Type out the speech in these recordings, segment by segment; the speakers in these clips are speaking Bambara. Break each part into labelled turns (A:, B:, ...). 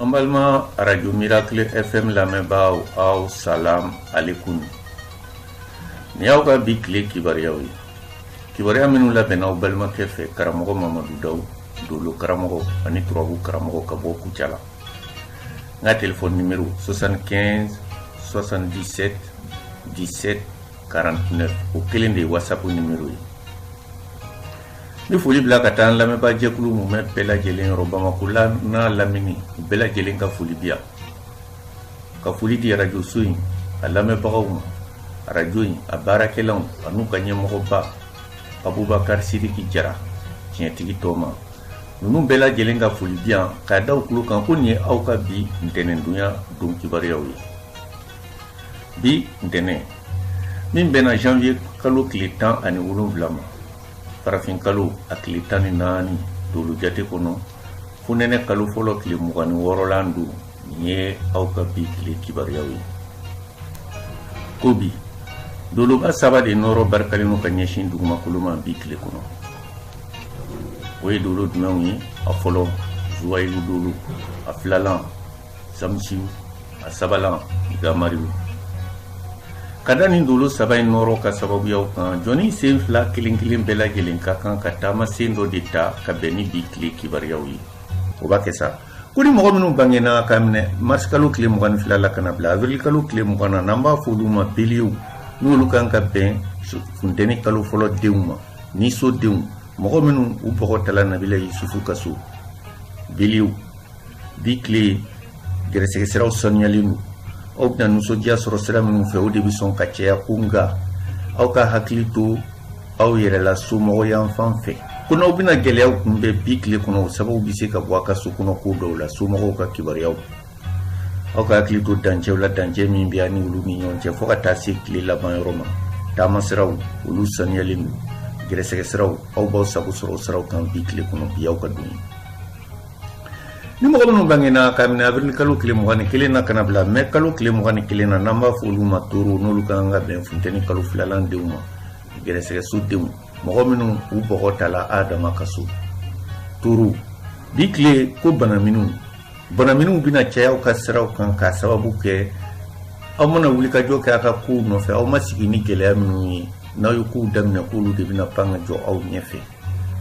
A: An balima radio Miracle FM lamɛnbaaw aw salam aleyikum nin y'aw ka bi tile kibaruyaw ye kibaruya minnu labɛnna aw balimakɛ fɛ karamɔgɔ Mamadu Dawu dolo karamɔgɔ ani turabu karamɔgɔ ka bɔ Kucala n ka telefɔni nimero 75 77 17 49 o kelen de ye wasapu nimero ye Ni foli bila ka taa lamɛnbaajɛkulu mumɛ bɛɛ lajɛlen yɔrɔ bamakɔ la n'a lamini u bɛɛ lajɛlen ka foli bi yan ka foli di arajoso in a lamɛnbagaw ma arajo in a baarakɛlaw ani u ka ɲɛmɔgɔba Abubakari Siriki jara tiɲɛtigi tɔ ma ninnu bɛɛ lajɛlen ka foli bi yan k'a da aw tulo kan ko nin ye aw ka bi ntɛnɛndonya don kibaruyaw ye bi ntɛnɛn min bɛnna janvier kalo tile tan ani wolonwula ma farafin kalo a tile tan ni naani dolu jate kɔnɔ funɛnɛ kalo fɔlɔ tile mugan ni wɔɔrɔlan don nin ye aw ka bi tile kibaruyaw ye ko bi doloba saba de nɔɔrɔ barikalen don ka ɲɛsin dugumakolo ma bi tile kɔnɔ o ye dolo jumɛnw ye a fɔlɔ zuwayilu dolo a filalan samisiw a sabalan gamariw ka da nin dolo saba in nɔɔrɔ ka sababuyaw kan jɔni sen fila kelen kelen bɛɛ lajɛlen ka kan ka taama sen dɔ de ta ka bɛn ni bi tile kibaruyaw ye o b'a kɛ sa ko ni mɔgɔ minnu bangena ka minɛ marisikalo tile mugan ni fila la ka na bila avirilikalo tile mugan na n'an b'a fɔ olu ma beliyew n'olu kan ka bɛn funteni kalo fɔlɔ denw ma ni so denw mɔgɔ minnu u bɔgɔ tala nabila yusufu ka so beliyew bi tile gɛrɛsɛgɛ siraw sanuyalen don aw bɛna nisɔndiya sɔrɔ sira minnu fɛ o de bɛ sɔn ka caya ko nka aw ka hakili to aw yɛrɛ la somɔgɔ yan fan fɛ ko n'aw bɛna gɛlɛyaw kunbɛn bi tile kɔnɔ o sababu bɛ se ka bɔ a ka so kɔnɔ ko dɔw la somɔgɔw ka kibaruyaw aw ka hakili to dancɛw la dancɛ min bɛ a ni olu ni ɲɔgɔn cɛ fo ka taa se tile laban yɔrɔ ma taama siraw olu sanuyalen don gɛrɛsɛgɛ siraw aw b'aw sago sɔrɔ siraw kan bi tile kɔnɔ bi aw ka don ni mɔgɔ minnu bangena ka minɛ avirili kalo tile mugan ni kelen na ka na bila mɛ kalo tile mugan ni kelen na n'an b'a fɔ olu ma toro n'olu ka kan ka bɛn funteni kalo filalan denw ma gɛrɛsɛgɛso denw mɔgɔ minnu u bɔgɔ tala Adama ka so toro bi tile ko banaminiw banaminiw bɛna caya aw ka siraw kan k'a sababu kɛ aw mana wulikajɔ kɛ a ka kow nɔfɛ aw ma sigi ni gɛlɛya minnu ye n'aw ye kow daminɛ k'olu de bɛna pan ka jɔ aw ɲɛfɛ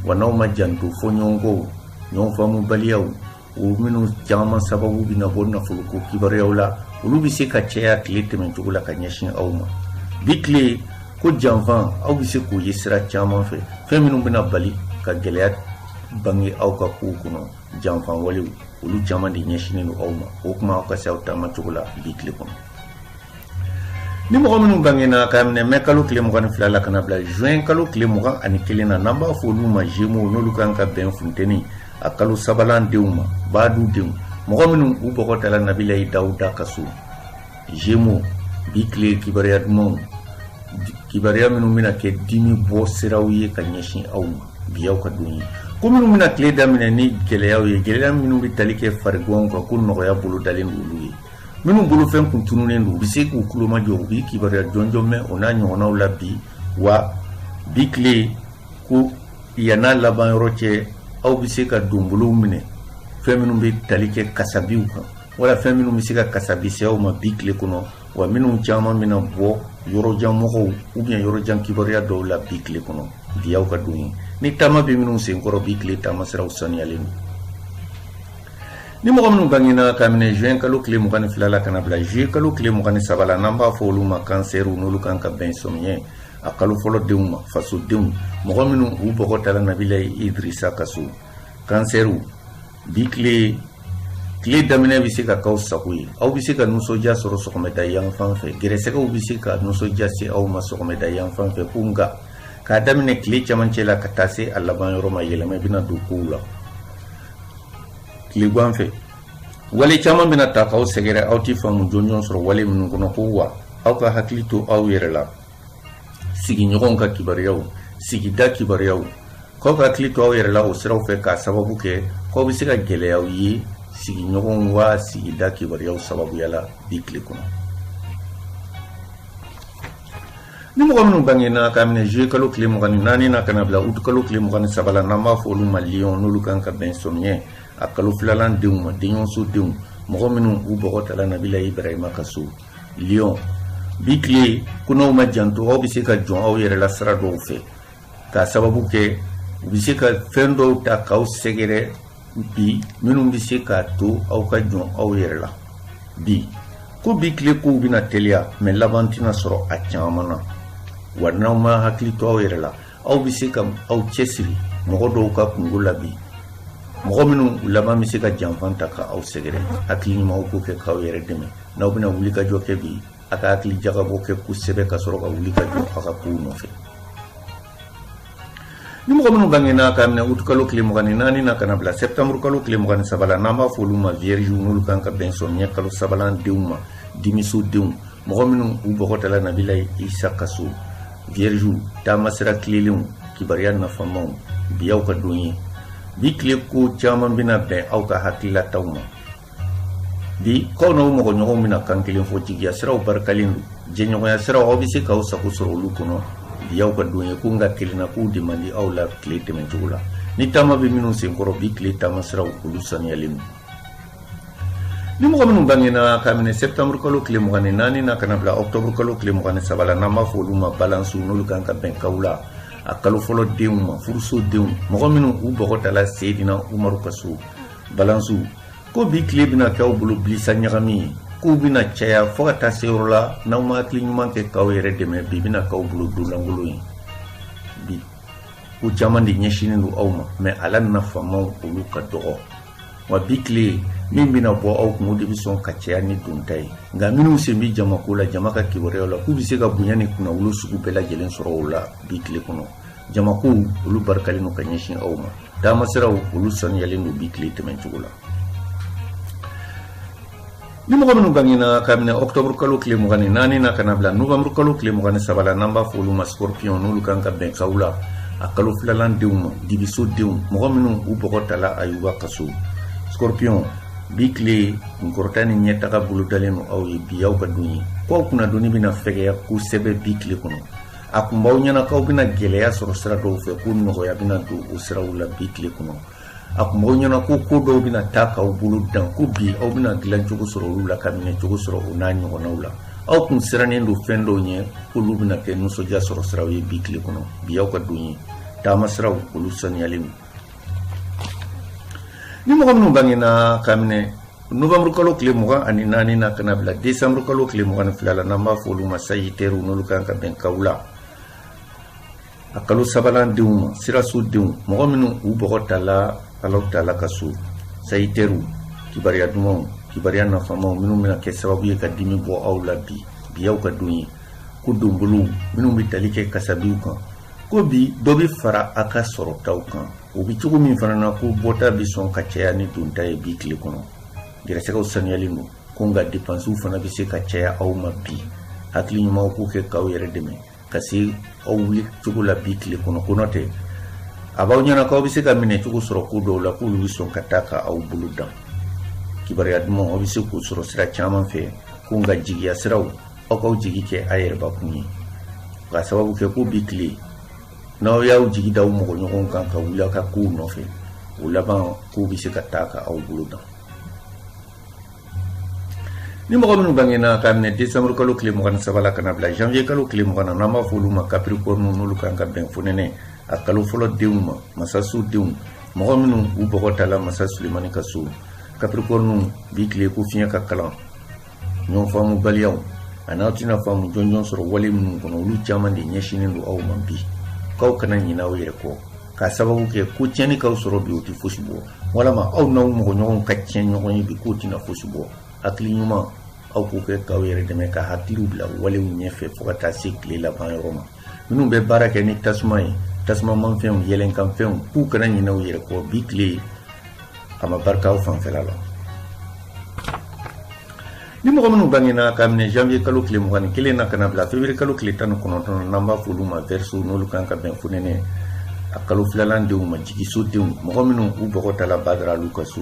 A: wa n'aw ma janto fɔɲɔgɔnkɔw ɲɔgɔnfaamubaliyaw o minnu caman sababu bɛna bɔ nafoloko kibaruyaw la olu bɛ se ka caya tile tɛmɛcogo la ka ɲɛsin aw ma bi tile ko janfan aw bɛ se k'o ye sira caman fɛ fɛn minnu bɛna bali ka gɛlɛya bange aw ka kow kɔnɔ janfan walew olu caman de ɲɛsinnen don aw ma o kuma aw ka se aw taamacogo la bi tile kɔnɔ ni mɔgɔ minnu bangena ka minɛ mɛ kalo tile mugan ni fila la ka na bila juin kalo tile mugan ni kelen na n'an b'a fɔ olu ma zemo n'olu kan ka bɛn funteni a kalo sabalan denw ma baadu denw mɔgɔ minnu u bɔgɔ tala nabila dawuda ka so zemo bi tile kibaruya dumanw kibaruya minnu bɛna kɛ dimi bɔ siraw ye ka ɲɛsin aw ma bi aw ka don ye ko minnu bɛna tile daminɛ ni gɛlɛyaw ye gɛlɛya minnu bɛ tali kɛ fariganw kan ko nɔgɔya bolo dalen don olu ye minnu bolofɛn kun tununen don u bɛ se k'u kulomajɔ u bɛ kibaruya jɔnjɔn mɛn o n'a ɲɔgɔnnaw la bi wa bi tile ko yann'a laban yɔrɔ cɛ aw bɛ se ka donbolow minɛ fɛn minnu bɛ tali kɛ kasabiw kan wala fɛn minnu bɛ se ka kasabi se aw ma bi tile kɔnɔ wa minnu caman bɛna bɔ yɔrɔjan mɔgɔw ou bien yɔrɔjan kibaruya dɔw la bi tile kɔnɔ bi y'aw ka don ye ni taama bɛ minnu senkɔrɔ bi tile taamasiraw saniyalen don Ni mɔgɔ minnu bangena ka minɛ juin kalo tile mugan ni fila la ka na bila juillet kalo tile mugan ni saba la n'an b'a fɔ olu ma kansɛriw n'olu kan ka bɛn samiɲɛ a kalo fɔlɔ denw ma fasodenw mɔgɔ minnu u bɔgɔ tala nabila idrisa ka so kansɛriw bi tile tile daminɛ bɛ se ka k'aw sago ye aw bɛ se ka nisɔndiya sɔrɔ sɔgɔmada yanfan fɛ gɛrɛsɛgɛw bɛ se ka nisɔndiya se aw ma sɔgɔmada yanfan fɛ ko nka k'a daminɛ tile camancɛ la ka taa se a laban yɔrɔ ma yɛlɛma bɛna don kow la tilegan fɛ wale caman bɛna ta k'aw sɛgɛrɛ aw tɛ faamu jɔnjɔn sɔrɔ wale minnu kɔnɔ ko wa aw ka hakili to aw yɛrɛ la sigiɲɔgɔnw ka kibaruyaw sigida kibaruyaw k'aw ka hakili to aw yɛrɛ la o siraw fɛ k'a sababu kɛ k'aw bɛ se ka gɛlɛyaw ye sigiɲɔgɔnw wa sigida kibaruyaw sababuya la bi tile kɔnɔ ni mɔgɔ minnu bangena ka minɛ juillet kalo tile mugan ni naani na ka na bila août kalo tile mugan ni saba la n'an b'a fɔ olu ma liyɔn n'olu kan ka bɛn samiyɛ a kalo filalan denw ma denɲɔgɔnso denw mɔgɔ minnu u bɔgɔ tala nabila ibrahima ka so liyɔn bi tile ko n'aw ma janto aw bɛ se ka jɔn aw yɛrɛ la sira dɔw fɛ k'a sababu kɛ u bɛ se ka fɛn dɔw ta k'aw sɛgɛrɛ bi minnu bɛ se k'a to aw ka jɔn aw yɛrɛ la bi ko bi tile kow bɛna teliya mɛ laban tɛna sɔrɔ a caman na wa n'aw ma hakili to aw yɛrɛ la aw bɛ se ka aw cɛsiri mɔgɔ dɔw ka kunko la bi mɔgɔ minnu laban bɛ se ka janfan ta ka aw sɛgɛrɛ hakili ɲumanw k'o kɛ k'aw yɛrɛ dɛmɛ n'aw bɛna wulikajɔ kɛ bi a ka hakili jagabɔ kɛ kosɛbɛ ka sɔrɔ ka wulikajɔ a ka kow nɔfɛ ni mɔgɔ minnu bangena ka minɛ utu kalo tile mugan ni naani na ka na bila sɛptanburu kalo tile mugan ni saba la n'an b'a fɔ olu ma viyɛriziw n'olu kan ka bɛn samiɲɛ kalo sabalan denw ma dimiso denw mɔgɔ minnu u bɔgɔ tala nabila isa ka so viyɛriziw taama sira tilelenw kibariya nafamaw bi y'aw ka don ye bi tile ko caman bɛna bɛn aw ka hakililataw ma bi k'aw n'aw mɔgɔ ɲɔgɔnw bɛna kan kelen fɔ jigiya siraw barikalen don jɛɲɔgɔnya siraw aw bɛ se k'aw sago sɔrɔ olu kɔnɔ bi y'aw ka don ye ko nka kelenna kow de man di aw la tile tɛmɛcogo la ni taama bɛ minnu senkɔrɔ bi tile taama siraw olu saniyalen don ni mɔgɔ minnu bangena ka minɛ septembre kalo tile mugan ni naani na ka na bila octobre kalo tile mugan ni saba la n'an b'a fɔ olu ma balansiw n'olu kan ka bɛn kawula kalo fɔlɔ denw ma furuso denw mɔgɔ minnu u bɔgɔ tala seedina umaru ka so balansiw ko bi tile bɛna kɛ aw bolo bilisa ɲagami ye kow bɛna caya fɔɔ ka taa se yɔrɔ la n'aw ma hakili ɲuman kɛ k'aw yɛrɛ dɛmɛ bi bɛna k'aw bolo don lankolon ye bi ko caman de ɲɛsinnen don aw ma mɛ a la nafamaw olu ka dɔgɔ wa bi tile min bɛna bɔ aw kun o de bɛ sɔn ka caya ni donta ye nka minnu sen bɛ jamako la jama ka kibaruyaw la k'u bɛ se ka bonya ni kunnawolo sugu bɛɛ lajɛlen sɔrɔ o la bi tile kɔnɔ jamakow olu barikalen don ka ɲɛsin aw ma taamasiraw olu saniyalen don bi tile tɛmɛn cogo la ni mɔgɔ minnu bangena ka minɛ ɔktɔburu kalo tile mugan ni naani na ka na bila novanburu kalo tile mugan ni saba la n'an b'a fɔ olu ma scorpion n'olu kan ka bɛn kawula kalo filalan denw ma dibiso denw mɔgɔ minnu u bɔgɔ tala ayuba ka so scorpion bi tile kunkɔrɔta ni ɲɛtaga bolodalen don aw ye bi aw ka don ye ko aw kunnadonni bɛna fɛgɛya kosɛbɛ bi tile kɔnɔ a tun b'aw ɲɛna k'aw bɛna gɛlɛya sɔrɔ sira dɔw fɛ ko nɔgɔya bɛna don o siraw la bi tile kɔnɔ a tun b'aw ɲɛna ko ko dɔw bɛna taa k'aw bolo dan ko bi aw bɛna dilan cogo sɔrɔ olu la ka minɛ cogo sɔrɔ o n'a ɲɔgɔnnaw la aw tun sirannen don fɛn dɔw ɲɛ k'olu bɛna kɛ nisɔndiya sɔrɔ siraw ye bi tile kɔnɔ bi aw ka don ye taama siraw olu saniyalen don ni mɔgɔ minnu bangena ka minɛ Nowanburu kalo tile mugan ni naani na ka na bila desanburu kalo tile mugan ni fila la n'an b'a fɔ olu ma sazitɛriw n'olu kan ka bɛn kawula kalo sabanan denw ma siraso denw mɔgɔ minnu u bɔgɔ tala alahu taala ka so sazitɛriw kibaruya dumanw kibaruya nafamaw minnu bɛna kɛ sababu ye ka dimi bɔ aw la bi bi y'aw ka don ye ko donbolow minnu bɛ tali kɛ kasabiw kan ko bi dɔ bɛ fara a ka sɔrɔtaw kan o bɛ cogo min fana na ko bɔta bɛ sɔn ka caya ni donta ye bi tile kɔnɔ gɛrɛsɛgɛw saniyalen don ko nka depansiw fana bɛ se ka caya aw ma bi hakili ɲumanw k'o kɛ k'aw yɛrɛ dɛmɛ ka se aw wuli cogo la bi tile kɔnɔ ko n'o tɛ a b'aw ɲɛna k'aw bɛ se ka minɛ cogo sɔrɔ ko dɔw la k'olu bɛ sɔn ka taa ka aw bolo dan kibaruya duman aw bɛ se k'o sɔrɔ sira caman fɛ ko nka jigiya siraw aw k'aw jigi kɛ a yɛrɛbakun ye ka sababu kɛ ko bi tile n'aw y'aw jigi da aw mɔgɔ ɲɔgɔn kan ka wuli aw ka kow nɔfɛ o laban kow bɛ se ka taa ka aw bolo dan ni mɔgɔ minnu bangena k'a minɛ décembre kalo tile mugan ni saba la ka na bila janvier kalo tile mugan na n'an b'a fɔ olu ma capricorne n'olu kan ka bɛn fonɛnɛ a kalo fɔlɔ denw ma masaso denw mɔgɔ minnu u bɔgɔ tala masa sulemani ka so capricorne bi tile ko fiɲɛ ka kalan ɲɔgɔn faamubaliyaw an'aw tɛna faamu jɔnjɔn sɔrɔ wale minnu kɔnɔ olu caman de ɲɛsinnen don aw ma bi k'aw kana ɲinɛ aw yɛrɛ kɔ k'a sababu kɛ ko tiɲɛni k'aw sɔrɔ bi o tɛ fosi bɔ walama aw n'aw mɔgɔɲɔgɔnw ka tiɲɛ ɲɔgɔn ye bi k'o tɛna fosi bɔ hakili ɲuman aw k'o kɛ k'aw yɛrɛ dɛmɛ ka hakiliw bila walew ɲɛfɛ fo ka taa se tile laban yɔrɔ ma minnu bɛ baara kɛ ni tasuma ye tasuma manfɛnw yɛlɛnkanfɛnw k'u kana ɲinɛ u yɛrɛ kɔ bi tile a ma barika aw fanfɛla la ni mɔgɔ minnu bangena k'a minɛ janvier kalo tile mugan ni kelen na ka na bila février kalo tile tan ni kɔnɔntɔn n'an b'a f'olu ma verseau n'olu kan ka bɛn fonɛnɛ a kalo filalan denw ma jigiso denw mɔgɔ minnu u bɔgɔ tala badaralu ka so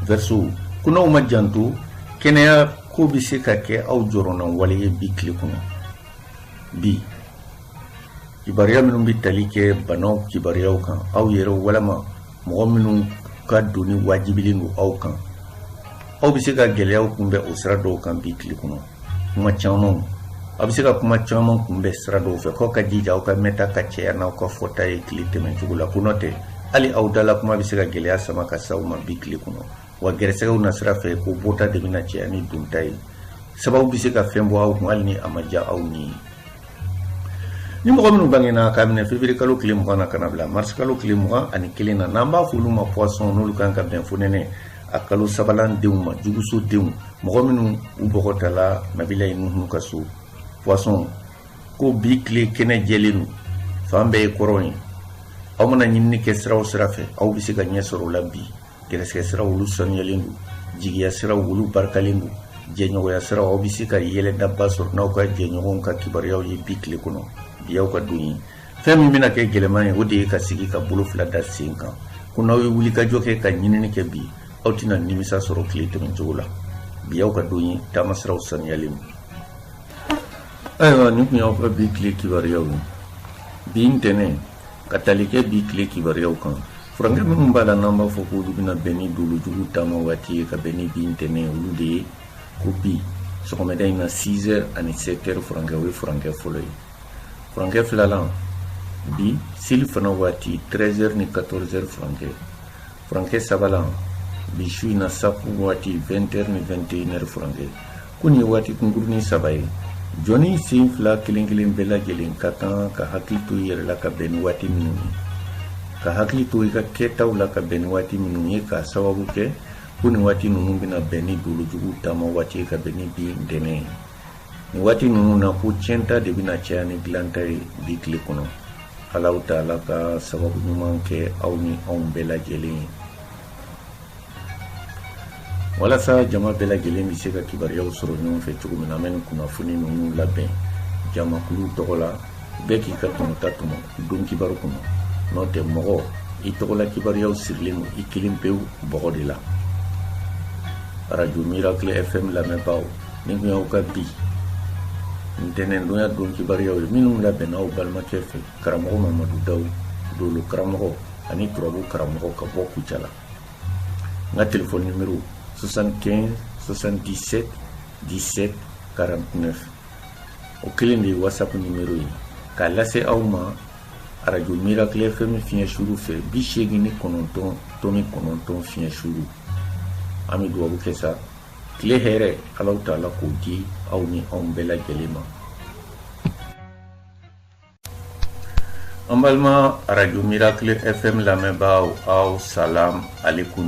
A: verseau ko n'aw ma janto kɛnɛya ko bɛ se ka kɛ aw jɔrɔna wale ye bi tile kɔnɔ bi kibaruya minnu bɛ tali kɛ banaw kibaruyaw kan aw yɛrɛ walama mɔgɔ minnu ka doni wajibilen don aw kan aw bɛ se ka gɛlɛyaw kunbɛn o sira dɔw kan bi tile kɔnɔ kuma camanw aw bɛ se ka kuma caman kunbɛn sira dɔw fɛ k'aw ka jija aw ka mɛta ka cɛya n'aw ka fɔta ye tile tɛmɛcogo la ko n'o tɛ hali aw dala kuma bɛ se ka gɛlɛya sama ka se aw ma bi tile kɔnɔ wa gɛrɛsɛgɛw na sira fɛ ko bɔta de bɛna cɛya ni donta ye sababu bɛ se ka fɛn bɔ aw kun hali ni a ma diya aw ni ye ni mɔgɔ minnu bangena k'a minɛ février kalo tile mugan na ka na bila mars kalo tile mugan ani kelen na n'an b'a fɔ olu ma poisson n'olu kan ka bɛn fonɛnɛ a kalo sabalan denw ma juguso denw mɔgɔ minnu u bɔgɔ tala nabilayi nuhunu ka so poisson ko bi tile kɛnɛ jɛlen don fan bɛɛ ye kɔrɔn ye aw mana ɲinini kɛ sira o sira fɛ aw bɛ se ka ɲɛ sɔrɔ o la bi gɛrɛsɛgɛ siraw olu sanuyalen don jigiya siraw olu barikalen don jɛɲɔgɔnya siraw aw bɛ se ka yɛlɛdaba sɔrɔ n'aw ka jɛɲɔgɔnw ka kibaruyaw ye bi tile kɔnɔ bi aw ka don ye fɛn min bɛna kɛ gɛlɛman ye o de ye ka sigi ka bolo fila da sen kan ko n'aw ye wulikajɔ kɛ ka ɲinini kɛ bi aw tɛna nimisa sɔrɔ tile tɛmɛ cogo la bi aw ka don ye taamasiraw sanuyalen don ayiwa nin tun y'aw ka bi tile kibaruyaw ye bi ntɛnɛn ka tali kɛ bi tile kibaruyaw kan furankɛ minnu b'a la n'an b'a fɔ k'olu bɛna bɛn ni dolojugu taama waati ye ka bɛn ni bi ntɛnɛn olu de ye ko bi sɔgɔmada in na 6 heures ani 7 heures furankɛ o ye furankɛ fɔlɔ ye furankɛ filalan bi selifana waati 13 heures ni 14 heures furankɛ furankɛ sabanan bi su in na safu waati 20 ni 21 furankɛ ko nin ye waati kunkurunin saba ye jɔnnin sen fila kelen kelen bɛɛ lajɛlen ka kan ka hakili to i yɛrɛ la ka bɛn ni waati minnu ye ka hakili to i ka kɛtaw la ka bɛn ni waati minnu ye k'a sababu kɛ ko nin waati ninnu bɛna bɛn ni dolojugu taama waati ye ka bɛn ni bi ntɛnɛn ye waati ninnu na ko tiɲɛta de bɛna caya ni dilanta ye bi tile kɔnɔ alahu taala ka sababu ɲuman kɛ aw ni anw bɛɛ lajɛlen ye walasa jama bɛɛ lajɛlen bɛ se ka kibaruyaw sɔrɔ ɲɔgɔn fɛ cogo min na an bɛ nin kunnafoni ninnu labɛn jamakulu tɔgɔ la bɛɛ k'i ka tɔmɔta tɔmɔ don kibaru kɔnɔ n'o tɛ mɔgɔ i tɔgɔla kibaruyaw sirilen don i kelen pewu bɔgɔ de la arajo miracle fm lamɛnbaaw nin tun y'aw ka bi ntɛnɛndonya don kibaruyaw ye minnu labɛnna aw balimakɛ fɛ karamɔgɔ mamadu daw dolo karamɔgɔ ani turabu karamɔgɔ ka bɔ kucala n ka telefɔni nimero 75 77 17 49 o kelen de ye whatsapp nimero ye k'a lase aw ma arajo miracle fm fiɲɛ suru fɛ bi seegin ni kɔnɔntɔn tɔmi kɔnɔntɔn fiɲɛ suru an bɛ dugawu kɛ sa tile hɛrɛ alahu taala k'o di aw ni anw bɛɛ lajɛlen ma an balima arajo miracle fm lamɛnbaaw aw salam alekum